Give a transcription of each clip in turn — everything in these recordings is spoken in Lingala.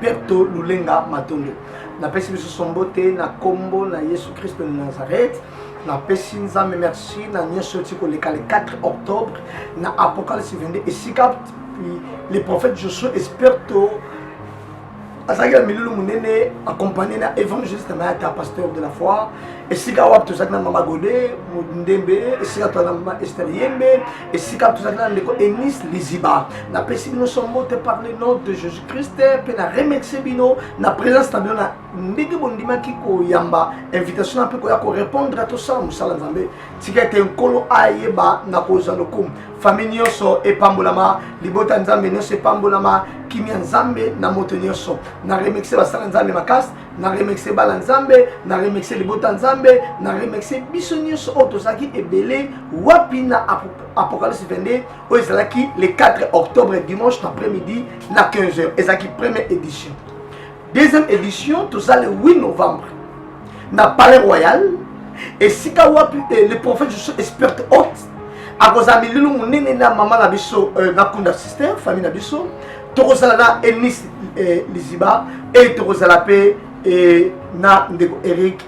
Berto Lulenga Matondo. Napesi lisusu mbote na kombo na Yesu Kristo na Nazareth. Napesi Nzambe merci na nyonso oti koleka le 4 octobre na Apocalypse 22 esika puis le prophète Josué Esperto azalaki na milulu monene accompagné na évangéliste na ata pasteur de la foi esika wapi tozalaki na mama gode ndembe esika toza na mama ester yembe esika tozalaki na ndeko enis liziba napesi bino so mbote par le nom de jésus christ mpe na remercie bino na présence na bino na ndenge bondimaki koyamba invitation na mpe koya korépondre tosala mosala nzambe tika ete nkolo ayeba na kozwa lokumu famille nyonso epambolama libota nzambe nyonso epambolama kimia nzambe na moto nyonso na remercie basala nzambe makasi na remercie bana nzambe na remercie libota nzambe na remercie biso nyonso oyo tozalaki ebele wapi na apocalypse 22 oyo ezalaki le 4 octobre dimanche na après midi na 15 heures ezalaki première édition deuxième édition toza le 8 novembre na palais royal esika wapi eh, le prophète esperte haute akozala mililu monene na mama na biso euh, na kunda sister famille na biso tokozala na enis euh, liziba e tokozala mpe euh, na ndeko eric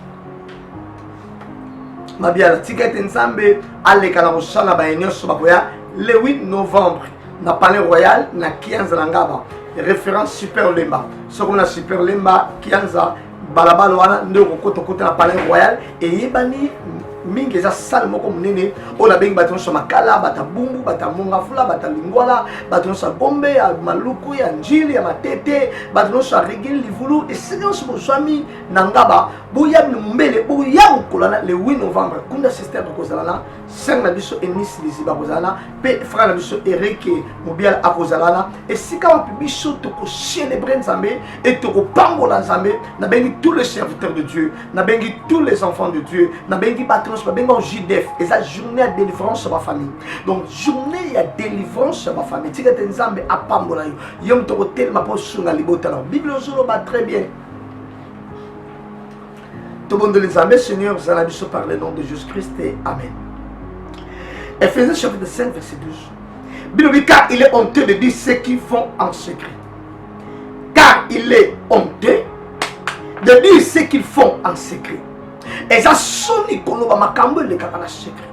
mabiala tika ete nzambe aleka na kosala baye nyonso bakoya le 8 novembre na palais royal na kianza na ngaba référence super lemba soki na super lemba kianza balabala wana nde okokota okota na palais royal eyebani mingi eza sale moko monene oyo nabengi bato nyonso ya makala bato ya bumbu bato ya mongafula bato ya lingwala bato nyonso ya gombe ya maluku ya njili ya matete bato nyonso ya regili livulu esika nyonso bozwami na ngaba boya mbele boya kokolana le 8 novembre kunda systeme ekozala na sœur na biso Eunice Liziba akozala na mpe frère na biso Eric Mobiala akozala na esika wapi biso tokocelebre Nzambe e tokopambola Nzambe nabengi tous les serviteurs de Dieu nabengi tous les enfants de Dieu nabengi bato nyonso babengi yango JDF eza journée ya délivrance ya bafamille donc journée ya délivrance ya bafamille tika ete Nzambe apambola yo yo moto okotelema mpo osunga libota na yo biblia ozoloba très bien tobondeli nzambe seigneur zala biso par le nom de jesus christ amen ephésiens chapitre 5 verset 12 bilobi car il est honteux de dire ce qui font en secret car il est honteux de dire ce qu'ils font en secret eza soni koloba makambo elekaka na secret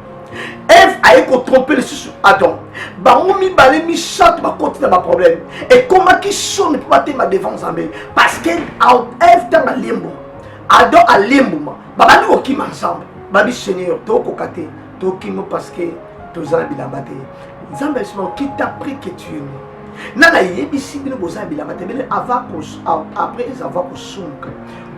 eve aye kotrompe lisusu adam bango mibale misato bakoti na baproblème ekomaki soni mpo batema devant nzambe parce que eve ntango alembo adam alembuma babandi kokima nzambe babi seigneur tokoka te tokima parce que toza na bilamba te nzambe alisima qui t'a pris que tu es né na nayebisi bino boza na bilamba te bene après avoir kosumuka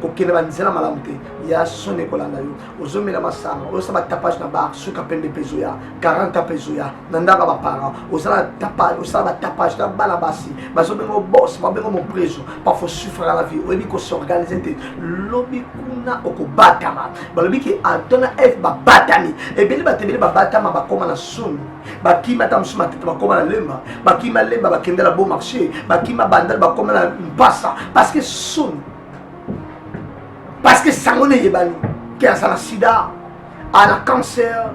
kokende banzela malamu te ya soni ekolanda yo ozomela masanga oyosa batapage na bar suka pembe mpe ezoya 40 mpe ezoya na ndako ya baparent osala batapage na bana basi bazobenga obos babenga mopreso pafo sufraka na vie oyebi kosorganize te lobi kuna okobatama balobi ke adam na eve babatami ebele bato ebele babatama bakoma na soni bakima ata mosusu matete bakoma na lemba bakima lemba bakendela bon marché bakima bandal bakoma na mpasa parce que soni parce que sango na eyebani ke azala sida ana cancer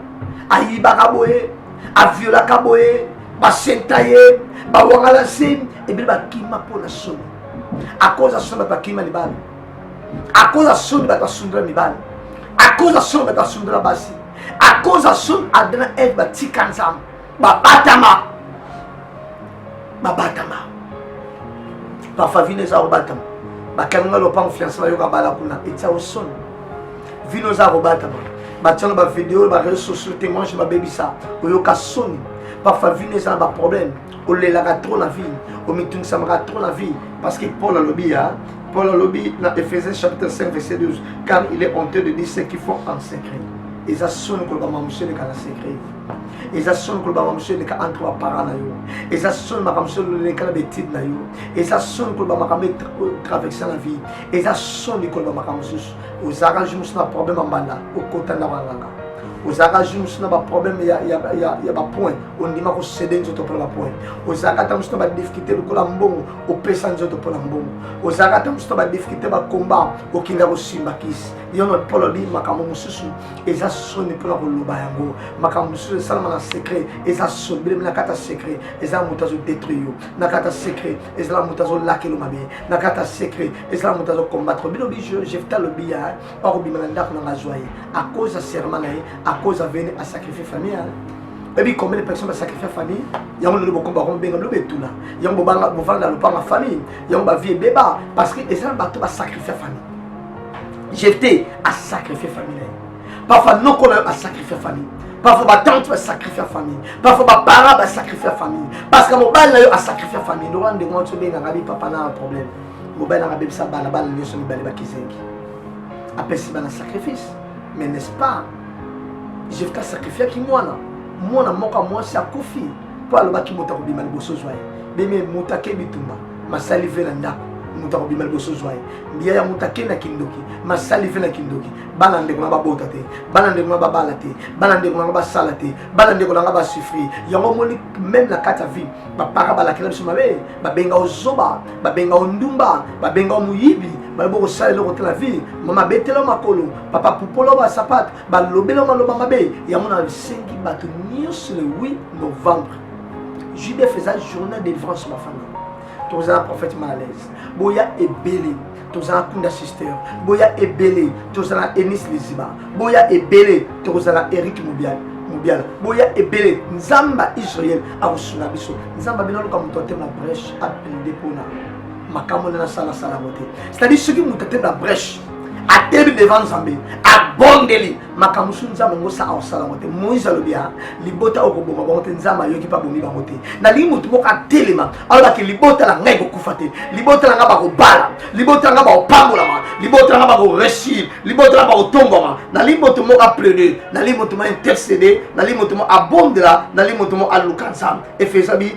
ayibaka boye aviolaka boye basenta ye bawangala se ebele bakima mpo na soni akoza soni bato bakima libala akoza soni bato basundela mibala akoza soni bato basundela basi akoza soni adana eve batika nzambe babatama babatama bafavine eza kobatama bakanga lopango fiance bayoka bala kuna etya osoni vino eza kobatama batyana bavideo bareseau sociaux témoignage babebisa oyoka soni parfois vino eza na baproblème olelaka trop na vie omitungisamaka trop na vie parce que paul alobi ya paul alobi na ephésiens chapitre 5 verset 12 car il est honteux de dire ce qu'ils font en secret eza soni kolobama moseleka na secret eza soni koloba makambo mosusu eleka entre baparent na yo eza soni makambo mosusu eleka na baetide na yo eza soni koloba makambo etraverse na vie eza soni koloba makambo mosusu ozalaka jour mosusu na problème ya mbanda okota ndako ya nganga ozalaka jour mosusu na baproblème ya bapoint ondima kosede nzoto mpona bapoint ozalaka ata mosusu na badifficulté lokola mbongo opesa nzoto mpona mbongo ozalaka ata mosusu na badifficulté bakomba okinda kosimba kisi yono polobi makambo mosusu eza soni mpona koloba yango makambo mosusu esalama na secret eza soni belemi na kati ya secret ezala moto azodetruire yo na kati ya secret ezala moto azolakelo mabe na kati ya secret ezala moto azokombatre bino bi jefta lobi ya akobima na ndako nanga azwa ye akoz ya serment na ye akoz aveni asacrifie famille oyebi combien de personnes basacrifie famille yango lelo bokomba yango bobenga bino betula yango bovanda na lopanga famille yango bavie ebeba parce que eza na bato basacrifie famille jefte asacrifie famille na ye parfois noko na yo asacrifie famille parfois batante basacrifie famille parfois baparent basacrifie famille parce que mobali na yo asacrifie famille lokola ndenge wana tobengaka bi papa na problème mobali nanga abebisa bana bana nyonso mibale bakizengi apesi bana sacrifice mais n'est-ce pas jefte asacrifiaki mwana mwana moko ya mwasi akufi mpo alobaki moto akobima liboso zwa ye beme moto ake bitumba masali ve na ndako moto akobima liboso zwa ye mbiya ya moto akenda kindoki masali fe na kindoki bana ndeko na babota te bana ndeko na babala te bana ndeko na nga basala te bana ndeko na nga basufri yango omoni meme na kati ya vie bapara balakela biso mabe babenga ozoba babenga ondumba babenga moyibi balobi okosala eloko te na vie mama betela makolo papa pupola basapate balobela maloba mabe yango na bisengi bato nyonso le 8 novembre judf eza journée de délivrance bafanda toza na prophète malaise boya ebele toza na kunda sister boya ebele toza na enis liziba boya ebele toza na eric mobiala mobiala boya ebele nzamba israel akosunga biso nzamba bino aluka moto atema breche aplide mpona makambo nde nasalasalako te c'est-à-dire soki moto atema breche atelemi devant nzambe abondeli makambo mosusu nzambe yango saka kosala yango te moïse alobi ya libota oyo koboma bango te nzambe ayoki mpe abomi bango te nalingi motu moko atelema alobaki libota na ngai kokufa te libota na ngai bakobala libota na ngai bakopambolama libota na ngai bakoreussir libota na ngai bakotombwama nalingi motu moko aplede nalingi motu moko intercede nalingi motu moko abondela nalingi motu moko aluka nzambe efesabi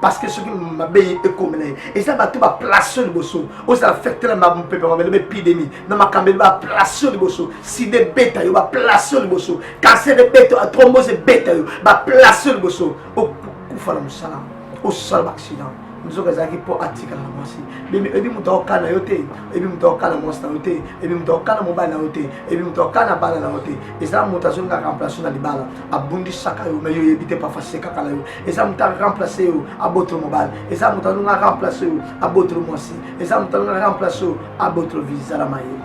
parce que soki mabe ekomela ye eza bato baplace oyo liboso ozala fete na mopepe mabele baepidemi na makambo ebe baplace oyo liboso sida ebeta yo baplace oyo liboso kanser ebeta yo trombose ebeta yo baplace oyo liboso okufa na mosala osala baaccident nzoka ezalaki mpo atikala na mwasi ebi moto akoka na yo te ebi moto akoka na mwasi na yo te ebi moto akoka na mobali na yo te ebi moto akoka na bana na yo te eza moto azongaka place na libala abundisaka yo me yo oyebi te pafa asekaka na yo eza moto aremplace yo abotolo mobali eza moto alonga aremplace yo abotolo mwasi eza moto alonga aremplace yo abotolo vizala mayele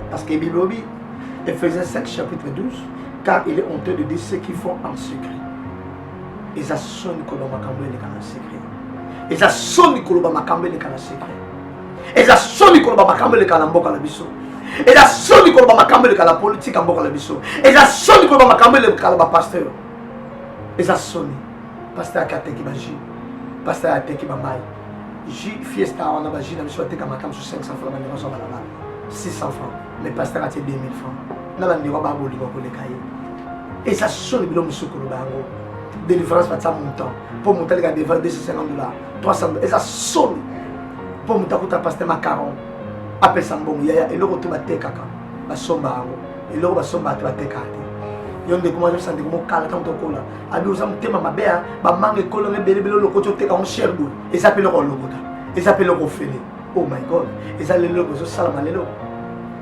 parce que bible obi ephésiens 5 chapitre 12 car il est honteux de dire ce qu'ils font en secret eza soni koloba makambo eleka na secret eza soni koloba makambo eleka na secret eza soni koloba makambo eleka na mboka na biso eza soni koloba makambo eleka na politike ya mboka na biso eza soni koloba makambo eleka na bapaster eza soni paster ake ateki baji paster ateki bamai ji fiesta wana baji na biso ateka makambo so 500 franc bandeko azwa balabala 600 franc mais paster atie 2000 franc na bandeko babolinga koleka ye eza soni bilo mosusu koloba yango délivrance batia montant mpo moto aleka devant 250 dollars 300 eza soni mpo moto akuta paste macaron apesa mbongo yaya eloko te batekaka basomba yango eloko basomba te batekaka te yo ndeko mwa yosande komokala ntango tokola abi oza motema mabe ya bamanga ekolo nga ebelebele olokoti oteka yango cher boy eza mpe eloko olokota eza mpe eloko ofele oh my god eza lelo eloko ezosalama lelo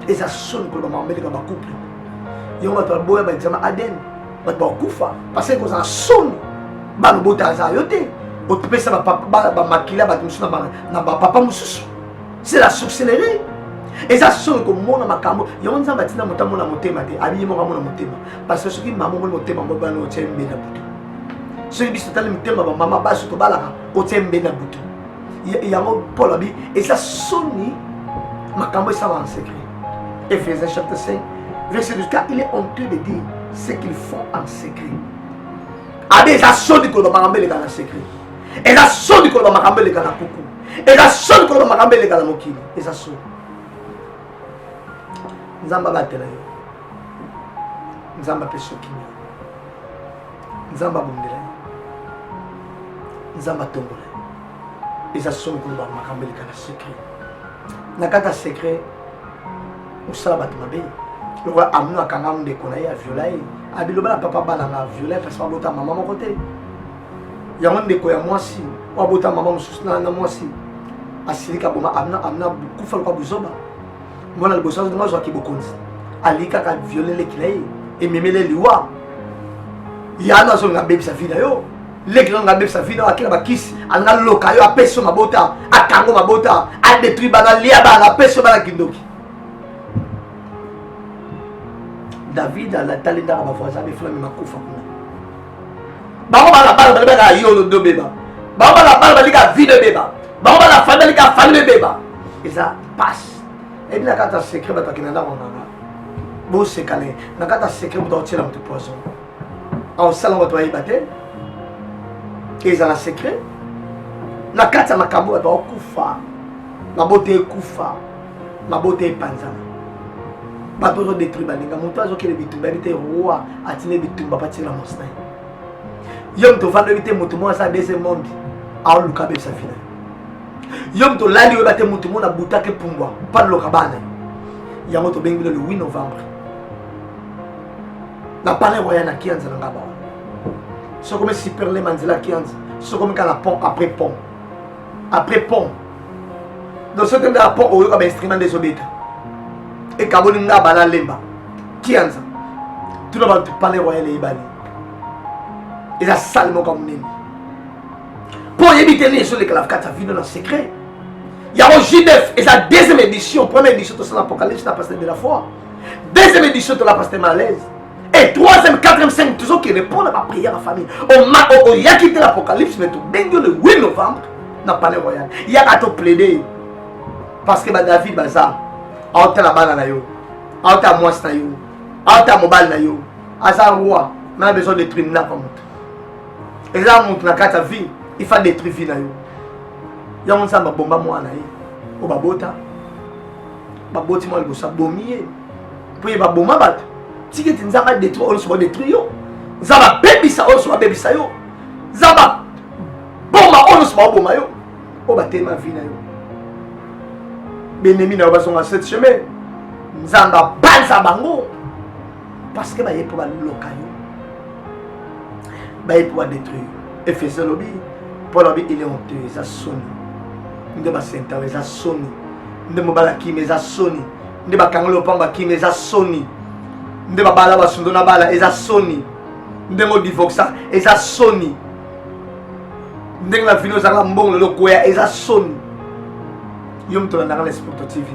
eza soni koloba mameleka bacouple yango bato baboya baexamen adn bato bakufa paseke kozala soni bana obota azala yo te otopesa bamakila bato mosusu na bapapa mosusu c'est la sorcellerie eza soni komona makambo yango nzambe atina moto amona motema te abiye moko amona motema parce que soki mama omoni motema moko bana otya mbela butu soki biso totali motema bamama basi tobalaka otya mbela butu yango paul abi eza soni makambo esala en secret ephésiens chapitre 5 verset 12 car il est honteux de dire ce qu'ils font en secret abi eza soni koloba makambo eleka na secret eza soni koloba makambo eleka na kuku eza soni koloba makambo eleka na mokili eza soni nzambe abatela yo nzambe apesi yo kimia nzambe abundela ye nzambe atombola ye eza soni koloba makambo eleka na secret na kati ya secret osala bato mabe lokola amino akanga ndeko na ye aviola ye abiloba na papa bana na aviola ye kasi babota mama moko te yango ndeko ya mwasi oyo abota mama mosusu na mwasi asilika boma amina amina kufa lokola buzoba mwana liboso azonga azwaki bokonzi alingi kaka viole leki na ye ememele liwa yano azonga abebisa vi na yo leki nanga abebisa vi na yo akela bakisi alinga loka yo apesi yo mabota akango mabota adetruit bana alia bana apesi yo bana kindoki david alatali ndaka bavoisin befulami makufa kuna bango bana bana balibaka yolo dobeba bango bana bana balika vi dobeba bango bana fami balika fami bebeba eza pasi eyebi na kati ya secret bato akenda ndako nganga bosekane na kati ya secret moto akotiela moto poison aosala bato bayeba te ezala secret na kati ya makambo bato bakokufa mabota ekufa mabota epanzana bato bazodetruire baninga moto azokende bitumba yebi te roi atindi bitumba batina mosi na ye yo moto ofandi oyebi te moto moko asala deuxième monde aoluka abebisa fina yo moto olali oyeba te moto mona butaki pumbwa paloka bana yango tobengi bino le 8 novembre na palais royal na kianza na ngaba soko me superle manzela kianza soko meka na pont après pont après pont donc soki enda na pont oyoka bainstrument nde ezobeta ekaboli ngaba na lemba kianza tuna bato palais royal eyebani eza sale moko ya monene mpo oyebi te nini ezolekala kati ya vino na secret yango judef eza deuxième édition première édition tosala apocalypse na pasteur de la foi deuxième édition tola pasteur malaise et troisième quatrième cinq tozokende mpo na baprière ya famille oyaki te na apocalypse me tobengi yo le 8 novembre na palais royal yaka toplaide parce que badavid baza aotala bana na yo aotala mwasi na yo aotala mobali na yo aza roi na besoin de tribunal kwa moto eza mutu na kati ya vie il faut détruire vie na yo yango nzambe abomba mwana na ye oyo babota baboti mwa liboso abomi ye mpo ye baboma bato tiki ete nzambe adetruire oyo nyonso badetruire yo nzambe abebisa oyo nyonso babebisa yo nzambe aboma oyo nyonso baoboma yo oyo batelema vi na yo benemi na yo bazonga cette chemin nzambe abanza bango parce que baye mpo baloka yo baye mpo badetruire efese alobi mpo alobi ile honte eza soni nde basentao eza soni nde mobali akima eza soni nde bakangoli lopango bakima eza soni nde babala basundo na bala eza soni ndenge odivoxa eza soni ndenge na vino ezalaka mbongo lelo koya eza soni yo moto olandaka na esporto tv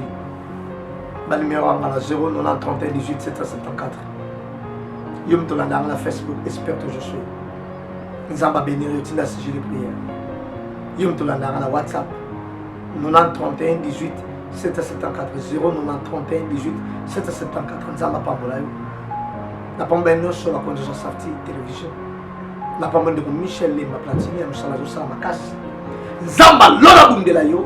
banimero yanga na 090318774 yo moto olanda yanga na facebook espère toujours sur nzambe abeniri yo tinda sujet de prière yo moto olanda yanga na whatsapp 903118 774 0903118 774 nzambe apambola yo napambola ye nyonso bakonzi oza safti télévision napambola ndeko michel lemba platini ya mosala azosala makasi nzambe alona bundela yo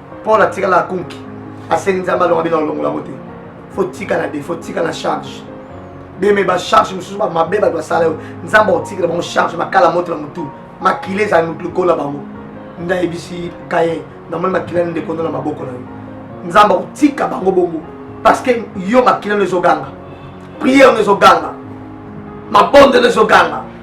Paul atikala akunki asengi nzambe alonga bino alongola yango te fo tikala de fo tikala charge beme bacharge mosusu bamabe bato basala yo nzambe akotikela bango charge makala moto na motu makila ezali motu lokola bango ndayebisi kaye namoni makila nde kondo na maboko na yo nzambe akotika bango bongo parce que yo makila no ezoganga priere no ezoganga mabondelo ezoganga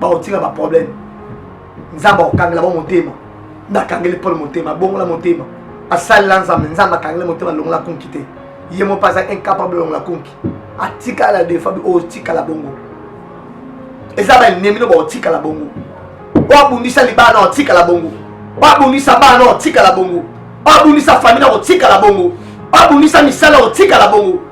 bakotika baproblème nzambe akokangela bo motema nde akangeli pole motema abongola motema asalela nzambe nzambe akangeli motema alongola konki te ye mo mpe aza incapable alongola konki atikala defabi oyo otikala bongo eza baennemi no baotikala bongo oyo abundisa libala na otikala bongo oyo abundisa bana na otikala bongo oyo abundisa famille na otikala bongo oyo abundisa misala otikala bongo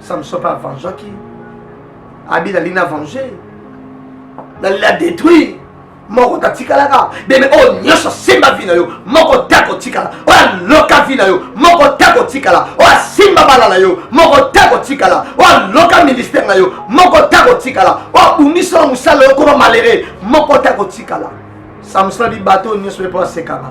samson mpe avangeaki abi nali na vange nali na détruire moko tatikalaka bebe oyo oh, nyonso asimba vi na yo moko te akotikala oyo oh, aloka vi na yo moko te akotikala oyo oh, asimba bala na yo moko te akotikala oyo aloka ministère na yo moko te akotikala oyo abundisa mosala yo koma malere moko te akotikala samsona bibato nyonso ye mpo asekaka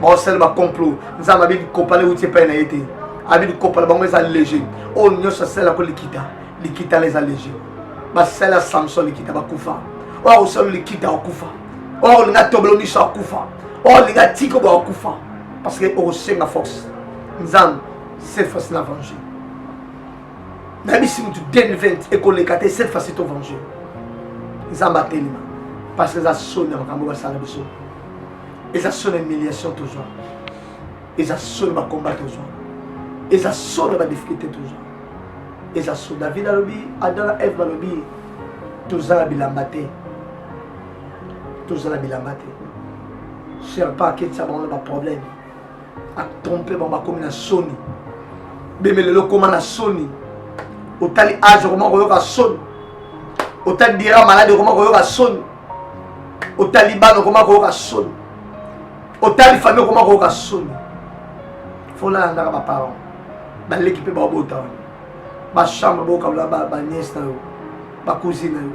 baosala bacomplot nzambe abi likopa le euti epai na ye te abi likopa na bango eza léger oyo nyonso asalelako likita likita la eza léger basala samson likita bakufa oyo akosala likita akufa oyo akolinga atobolo miso akufa oyo alinga tiko bo akufa parce que okosenga force nzambe cette fois na venger nayebisi motu 2020 ekoleka te cette fois to venger nzambe atelema parce que eza soni ya makambo basala biso eza solo humiliation tozwa eza solo bakomba tozwa eza solo badifficulté tozwa eza solo david alobi adam na eve balobi tozala bilamba te tozala bilamba te serpa aketisa bango na baproblème atrompe bango bakomi na soni beme lelo okoma na soni otali age okoma koyoka soni otali dira maladi okoma koyoka soni otali bana okoma koyoka soni otali famille okoma koyoka soni folala ndaka baparent baleki mpe babota wana bachambre bokabola baniese na yo bacousine na yo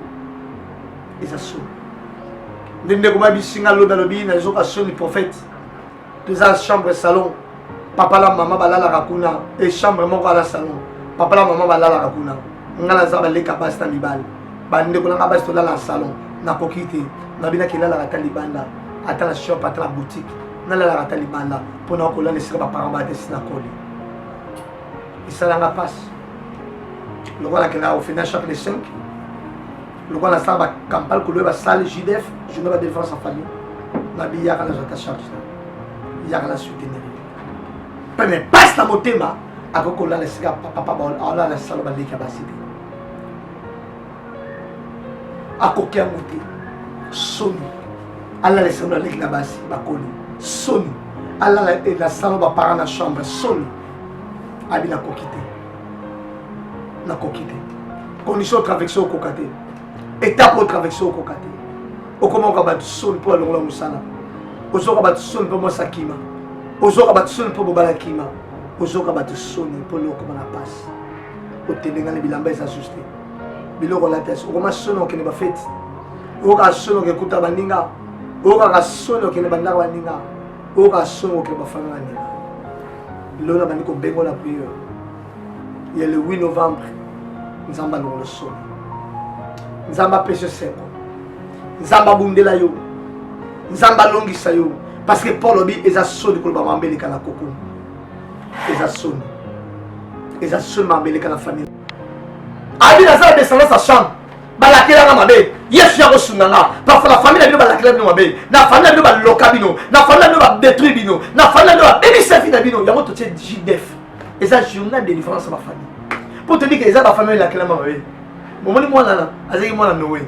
eza soni nde ndeko mabisinga lobi alobi nazoka soni prophète toza chambre salon papa la mama balalaka kuna e chambre moko ala salon papa la mama balalaka kuna nga naza baleka basi na mibali bandeko na nga basi tolala salon nakoki te nabinaki elalaka ata libanda ata na shop ata na boutique nalalaka ata libanda mpo na kolala esika baparent batesi na koli esalanga mpasi lokola nakendaka ofina chaque le 5 lokola nasala bacampagne koloye basali judf journée ba défense en famille nabiyaka nazwa ta charge na yaka na soutenir mpe me pasi na motema akoki kolala esika papa alala salo baleki ya basi te akoki yango te soni alala esika baleki na basi bakoli soni alala na salo baparent na chambre soni abi nakoki te nakoki te condition travexe okoka te étape otravexe okoka te okomoka bato soni mpo alongola mosala ozoka bato soni mpo mwasi akima ozoka bato soni mpo bobala akima ozoka bato soni mpo lokoma na mpasi otendengani bilamba eza susu te biloko olata esi okoma soni okende bafeti oyokaka soni okekuta baninga oyokaka soni okende bandako baninga oyo kasongo ke bafana na ndela lelo nabandi kobengo na priere ya le 8 novembre nzambe alongolo solo nzambe apesi esengo nzambe abundela yo nzambe alongisa yo parce que paul obi eza soni koloba mambe eleka na koko eza soni eza soni mambe eleka na famille abi naza na descendance ya chambre balakela nga mabe yesu ya kosunga nga parfo na famille na bino balakela bino mabe na famille na bino baloka bino na famille na bino badetruire bino na famille na bino babebisa vi na bino yango totie jdef eza journal de différence ya bafamille mpo toyebi ke eza bafamille elakelama mabe momoni mwana na azalaki mwana noe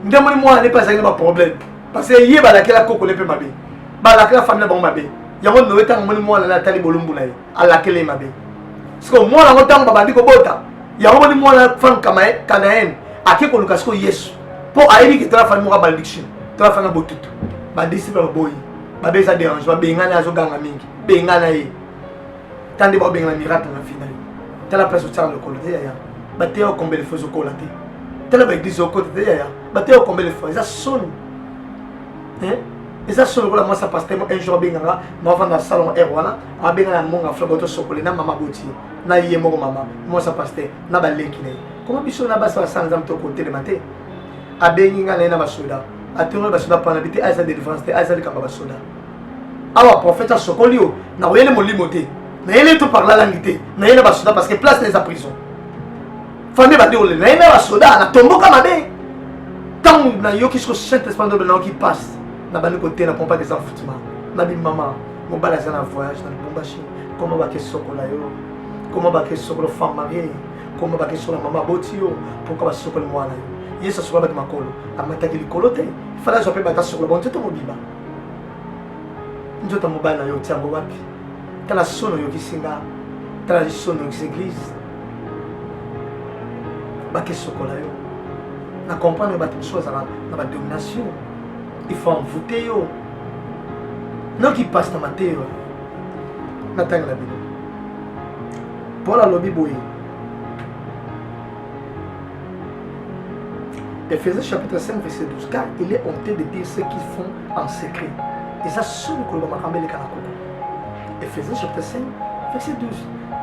nde moni mwana ne mpe azalaki na baproblème parce que ye balakela koko ne mpe mabe balakela famille na bango mabe yango noe ntango moni mwana na atali bolumbu na ye alakele ye mabe sikoyo mwana yango ntango babandi kobota yango moni mwana femme canaene ake koluka sikoyo yesu mpo ayebi ke tala fani moko abaldiction tala fani abotutu badisiple baboyi babe eza derange babengani azoganga mingi bengana ye ta nde baobengana miracle na fina yo tala place otyaka lokolo te yaya bateya okombele fo ezokola te tala baeglise okota te yaya bateya okombele fo eza soni eza solo lokola mwasi ya paster un jour abenganga mavanda salon air wana abenga na monga fla boto sokole na mama boti na ye moko mama mwasa pasteur na baleki na ye koma biso na basi basala nzambe to kotelema te abengi ngai na ye na basoda atongoli basoda mpana bi te aza delivrance te aza likambo ya basoda awa prophète asokoli yo na koyele molimo te na yele to parla langi te na yele basoda parce que place na eza prison famille bandi kolela na ye na basoda natomboka mabe ntango nayoki siko saint esprit ndobe nayoki pasi nabandi koteya na pompaki eza futima na bimama mobali aza na voyage na lubumbashi koma bake sokola yo koma bake sokola femme marie koma bake sokola mama aboti yo pourkoi basokoli mwana yo yesu asokola bake makolo amataki likolo te fale azwa mpe bata sokola bango nzoto mobima nzoto mobali na yo otia yango wapi tala sono oyokisi nga tala lisono oyokisi eglise bake sokola yo na comprendre bato mosusu bazala na badomination il faut envoûter yo noki pasta mateyo natangela bino paul alobi boye Ephésiens chapitre 5 verset 12 car il est honté de dire ce qu'ils font en secret eza soni koloba makambo eleka na koko Ephésiens chapitre 5 verset 12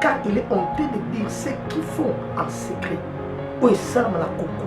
car il est honté de dire ce qu'ils font en secret oyo esalama na koko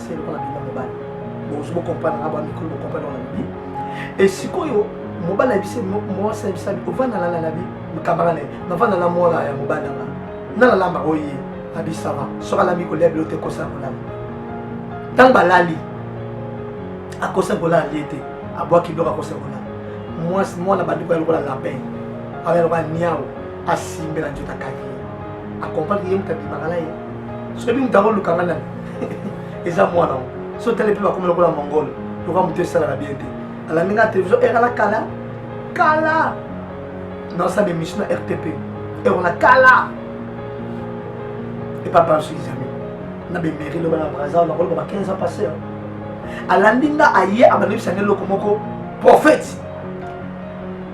se lokola bino mobali bokoki bokomprendre nga bwa mikolo bokomprendre wana lobi e sikoyo mobali ayebisi mwasi ayebisa ovanda na lalabi kamara ne navanda na mwana ya mobali yanga nalalamba oye abisama soki alami kolia bilo te kosa kolala ntango balali akosa kolala lie te abwaki biloko akosa kolala mwasi mwana bandi koya lokola lapin aya lokola niao asimbela nzoto akaki akompaki ye moto abimaka na ye soki moto yango olukanga nani eza mwana yango so otali mpe bakomi lokola mongolo lokola moto esalaka bien te alandi nga télévision ere na kala kala naosala émission na rtp ero na kala epa banso izami na bemeri loba na brasil nakoloba ba 15 ans passé alandi nga aye abandebisa nde eloko moko prophète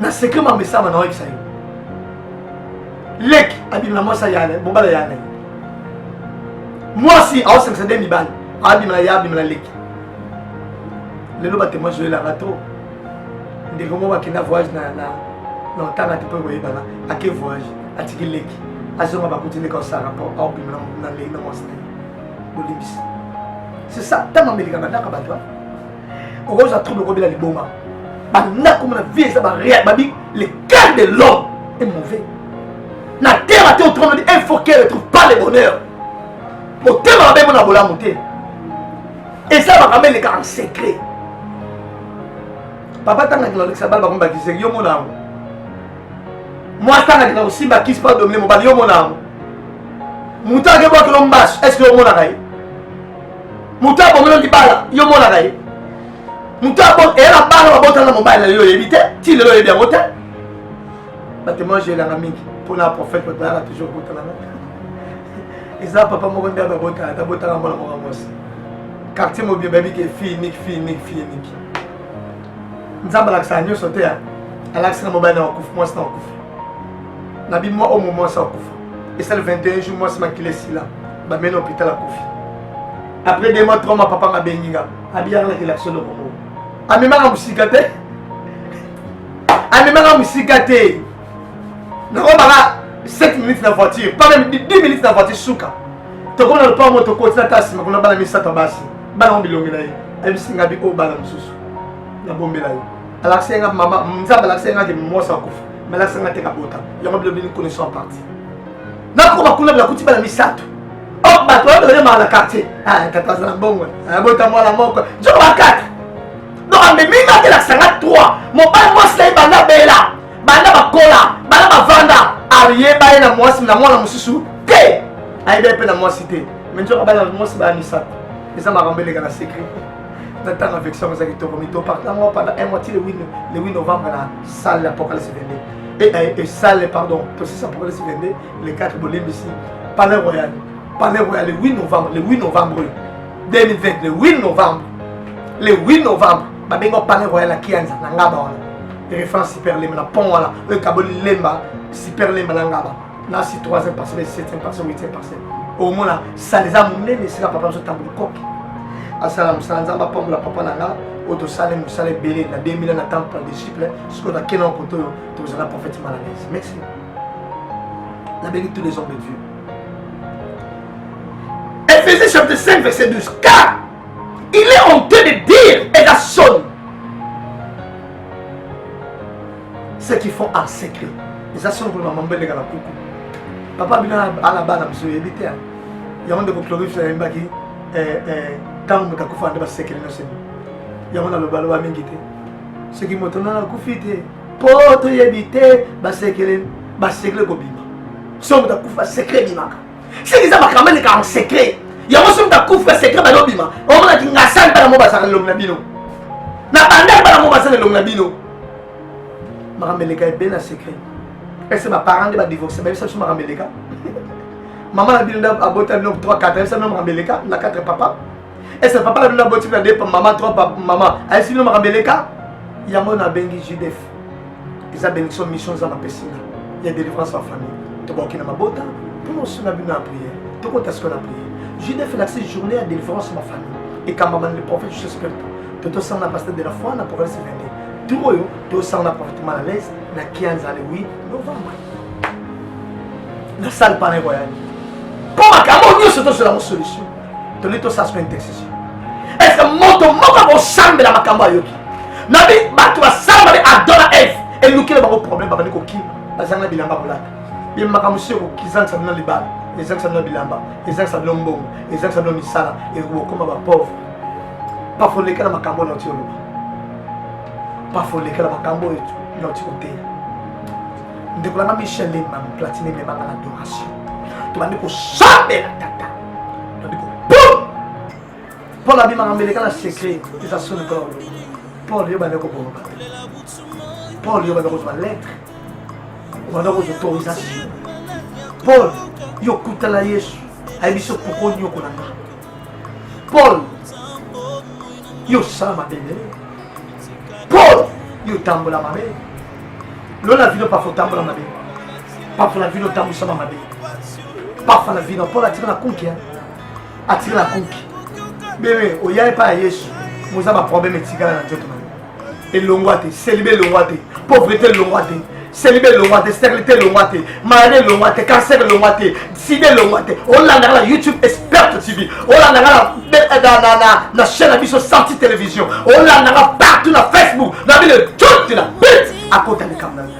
na secret ma mesama na oyebisa yo leki abima na mwasi ya mobala ya na mwasi aosangisa nde mibali abima na ye abima na leki lelo batemoin zoyelanga to ndeko moko akenda voyage na na otanga te mpo ekoyebana ake voyage atiki leki azonga bakuti leki aosala rapport aobima na leki na mwasi na ye bolimbisi c'est ça ntango amelika bandaka bato okozwa trouble okobela liboma banda komona vie eza babi le cœur de l'homme est mauvais na terre ate otromodi il faut qu'elle trouve pas le bonheur motema mabe mona bolamu te eza makambo eleka en secret papa tanga kina olekisa bala bakomba kiseki yo mona yango mwasi tanga kina kosimba kisi pa domine mobali yo mona yango moto akebwakelo mbasu est ce que omonaka ye moto abomela libala yo monaka ye moto eya na bana babotala na mobali na yo oyebi te ti lelo oyebi yango te batemoin elanga mingi mpona prophète batalaka toujours kotalana eza papa moko nde babotala tabotala mwana moko mwasi quartier mobie bayebi ke fille niki fille niki fille niki nzambe alakisaka nyonso te alakisi na mobali na wakufa mwasi na wakufa na bimwa omo mwasi akufa esali 21 jour mwasi makila esila bameli hôpital akufi après deux mois trois mois papa nga bengi nga abiyaka na kelakso eloko moko amemaka mosika te amemaka mosika te nakobaka 7 minutes na voiture pas même 10 minutes na voiture suka tokoma na lopango moto koti na ta nsima kuna bana misato ya basi bana ngo bilongi na ye ayebisi nga bi oyo bana mosusu nabombela yo alakisa ye nga mama nzambe alakisa ye nga ke mwasi akufa malakisa nga te kabota yango bilobi ni connaissant partie nako bakuna belakuti bana misato oh, bato oyo balemaka na quartier ah, tata aza na mbongo abota ah, mwana moko nzoko bakata donc amemi nga telakisa nga 3 mobali mwasi na ye banda bela banda bakola banda bavanda ayeba ye na mwasi na mwana mosusu te ayeba ye mpe na mwasi te me nzoko bana mwasi baya misato eza makambo eleka na secret na ntango affection eza kitoko mito partango pendant un mois ti le 8 novembre na salle apocalypse 22 et, et, et salle pardon tosisa pour le 22 le 4 bolembisi palais royal palais royal le 8 novembre le 8 novembre 2020 le 8 novembre le 8 novembre babengi palais royal ya kianza na ngaba wana référence super lemba na pont wana oyo ekaboli lemba super lemba na ngaba na si 3e parcelle 7e parcelle 8e parcelle omona sala eza monene esika papa biso ntango likoki asala mosala nzambe apambola papa na nga oyo tosali mosala ebele na 2000 na temple ya disciple sikoyo nakenda na koto oyo tozala prophète malanese merci nabengi tous les hommes de dieu Ephésiens chapitre 5 verset 12 car il est honteux de dire et la sonne ce qui font en secret eza solo kolema mambo eleka na kuku papa bino ala bana biso oyebi te yango ndeko clovis ayembaki eh, eh, ntango moto akufa nde basekele nyonso yango nalobaloba mingi te soki moto nana akufi te mpo toyebi te basekele basekele kobima so moto akufa sekre ebimaka seke eza makambo eleka en secret yango soki takufa secret balobima omonaki ngasani bana mo bazala elongi na bino na bandaki bana mo bazala elongi na bino makambo eleka ebele na secret ese baparent nde badivorce bayebisa biso makambo eleka mama na bino nde abota bino 3 4 ayebisa bino makambo eleka na 4 papa ese papa na bino aboti na depa mama trop mama ayesi bino makambo eleka yango nabengi judef eza benediction mission nzambe apesi nga ya délivrance en famille tobaoki na mabota mpona osunga bino ya prière tokota sikoyo na prière judef elakisi journée ya délivrance ma famille ekambama na le prophète jesus spirito totosanga na pasteur de la foi na province 22 tour oyo tosanga na prophète mal à l'aise na kianza le 8 novembre na salle pana ekoyani mpo makambo nyonso tozwela yango solution toli tosasuka intercession est-ce que moto moko akosambela makambo ayoki nabi bato basala babe adora eve elukile bango problème babandi kokima bazanga na bilamba kolata ye makambo si okokizangisa bino libala ezangisa bino bilamba ezangisa bino mbongo ezangisa bino misala ekokoma bapauvre pafolekela makambo oyo nauti oloba pafolekela makambo oyo nauti koteya ndeko nanga michel lemam platine memanga na adoration tobandi kosambela tata Paul abimaka mbele kala secret eza soni mpo na Paul yo bande koboma bato Paul yo bande kozwa lettre obanda kozwa autorisation Paul yo okutala Yesu ayebi so poko nyokola nga Paul yo osala mabe nde Paul yo otambola mabe lola vino pafa otambola mabe Papa la vino tango sama mabe. Papa la vino pola tika na kuki hein. Atira na kuki. Bebe oyaye pa Yesu. Moza ba problème etikala na nzoto na yo. Elongwa te, celibe elongwa te, pauvreté elongwa te. Celibe elongwa te, stérilité elongwa te, maladie elongwa te, cancer elongwa te, sida elongwa te. Olandaka na YouTube Expert TV. Olandaka na na na na na chaîne na biso Santi Télévision. Olandaka partout na Facebook. Na bile tout na bit akota likambo na yo.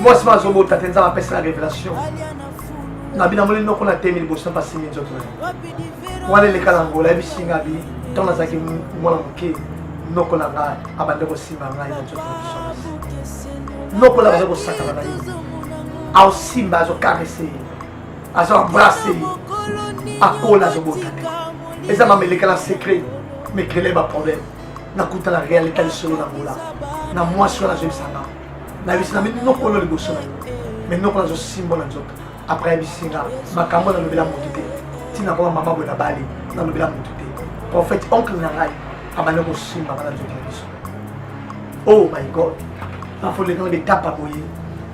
mwasi ma azobota te nzambe apesa na révélation na bino amoni noko na temi liboso na basimi nzoto na ye wana eleka na ngola yebisi nga bi ntango nazalaki mwana moke noko na ngai abande kosimba ngai na nzoto na biso noko na baza kosakana na ye aosimba azokarese ye azo embrase ye akola azobota te eza mameleka na secret mekele baproblème nakuta na realite ya lisolo na ngola na mwasi wana azoyebisanga nayebisi na minokolo liboso na yo me nokolo azosimbola nzoto apres ayebisi nga makambo nalobela motu te ntina koma mama boye nabali nalobela motu te prophète oncle na ngai abandi kosimba bana nzoto na biso oh my god bafolekana betapa boye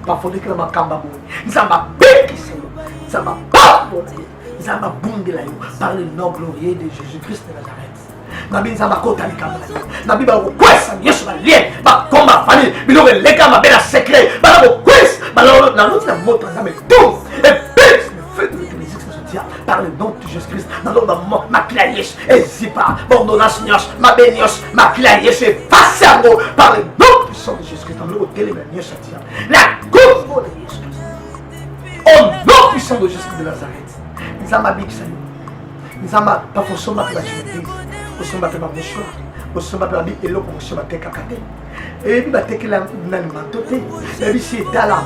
bafolekana makambo boye nzambe abekisa yo nzambe apambola yo nzambe abundela yo par le nom glorieux de jésus christ de nazareth nabi nzambe akota likambo na yo nabi bakokwesa yesu balien bakoma fali biloko eleka mabe na secret bana kokwesa naloti na moto ya nzambe to epesi par le nom de jésus christ naloba makila ya yesu ezipa baordonnance nyonso mabe nyonso makila ya yesu epasi yango par le nom puissant de jésus christ nalokotelema nyonso atia na kombo na yesu au nom puissant de jésus de nazareth nzambe abikisa yo nzambe papa osomba mpe bajeuneprise osomba mpe bamoshwa osomba mpe babi eloko mosusu batekaka te eyebi batekela na limanto te nayebi si etala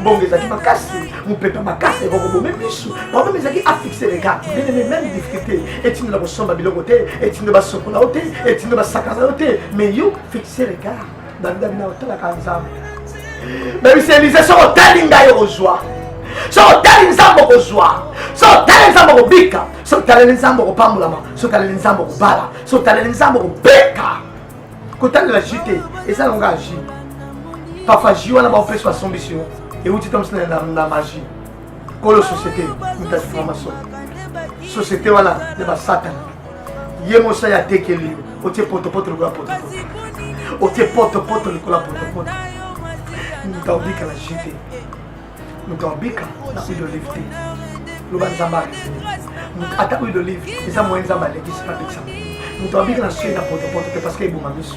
mbongo ezalaki makasi mopepe makasi ekokobome misu problème ezalaki afixe regard benene meme difficulté etindo na kosomba biloko te etindo basokola yo te etindo basakana yo te mais yo fixe regard bandami na otalaka nzambe bebisa elize soki otali ngai okozwa soki otali nzambe okozwa soki otali nzambe okobika soki otaleli nzambe okopambolama soki otaleli nzambe okobala soki otaleli nzambe okobeka kotalela ji te eza nango kaka ji parfois ji wana baopesi basombisi yo euti tomsi na magie kolo société mutasi franc-maçon société wana ya basatana ye mosali atekeli yo otie potopoto lokola potopoto otie potopoto lokola potopoto moto aobika na ji te moto aobika na huile d'olive te loba nzambe arese ata huile d'olive eza moyen nzambe alekisi na bikisa moto abika na soi na potopoto te parce que eboma miso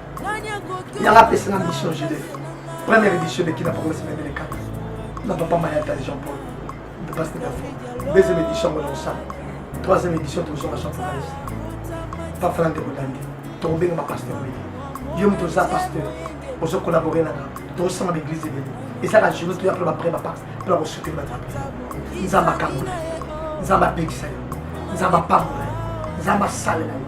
yanga apesi na mission jide première édition de kina pokoma semaine de kaka na papa mayata jean paul de passe de fo deuxième édition ngona osala troisième édition tozonga jean paul pafala nde kodande tokobenga ba pasteur oyo yo moto oza pasteur ozo collabore nanga tozosanga baeglise ebele ezaka journée toya mpo bapre bapa mpo na kosuteli bato nzambe akangola nzambe apekisa yo nzambe apambola yo nzambe asalela yo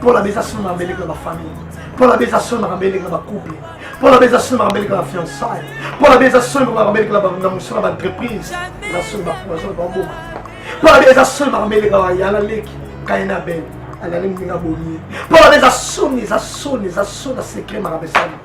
mpo na beza solo makambo eleki na bafamille mpo na beza solo makambo eleki na bacouple mpo na beza solo makambo eleki na bafiançaille mpo na beza solo makambo eleki na mosala baentreprise na solo bapromotion baboma mpo na beza solo makambo eleki na bayala leki kaina bene alali moninga bomi mpo na beza soni eza soni eza soni na secret makambo esali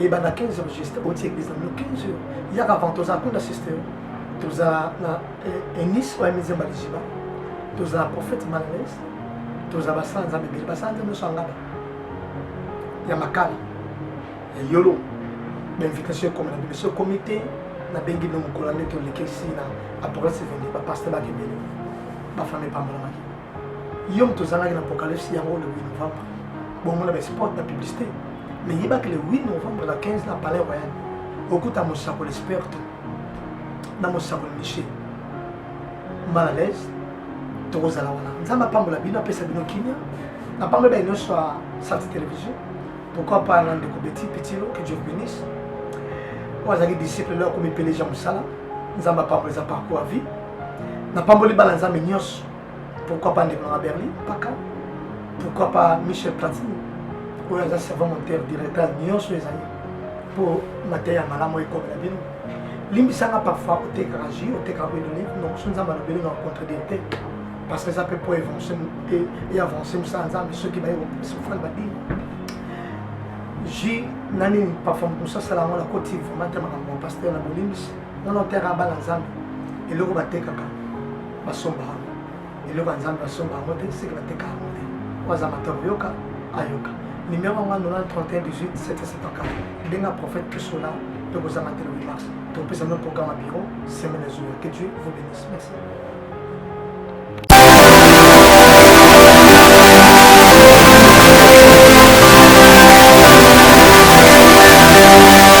ebanda 15 heures juste oti eglise na bino 15 heures yaka avant tozala kuna sister tozala na enis oyo amize mbalijiba tozala prophète malales tozala basala nzambe ebele basala nzambe nyonso angaba ya makala ya yolo bainvitation ekoma na biso ekomi te nabengi bino mokolo nde tolekisi na apocalypse 22 bapaster bakebele bafami epambolamaki yo moto ozalaki na apocalypse yango le 8 novembre bongo na basport na publicité mais yebaki le 8 novembre na 15 na palais royal okuta mosakoli sperte na mosakoli miche mal à l'aise tokozala wana nzambe apambola bino apesa bino kimia napambola baye nyonso ya santi télévision pourquoi pas na ndeko beti pitilo que dieu bénisse oyo azalaki disciple leo akomi peleja mosala nzambe apambola eza parcours ya vie napamboli bana nzambe nyonso pourquoi pas ndeko na berlin paka pourquoi pas michel platini oyo aza servant monteur directeur nyonso ezali mpo mateya ya malamu ekomela bino limbisanga parfois otekaka jus otekaka huile d'olive donc so nzambe alobeli na contredire te parce que eza mpe mpo eavance mosala nzambe soki baye sofrane badini jus na nini parfois mokomosi asala yango nakoti vraiment te makambo ya paster na bolimbisi wana oteka bana nzambe eloko batekaka basomba yango eloko ya nzambe basomba yango te seke bateka yango te oyo aza mata koyoka ayoka nimero yango anona 3118 benga prophète kisola mpe kozanga te lobi mars tokopesa no programme ya biro semaine ezoya que dieu vous bénisse merci Thank you.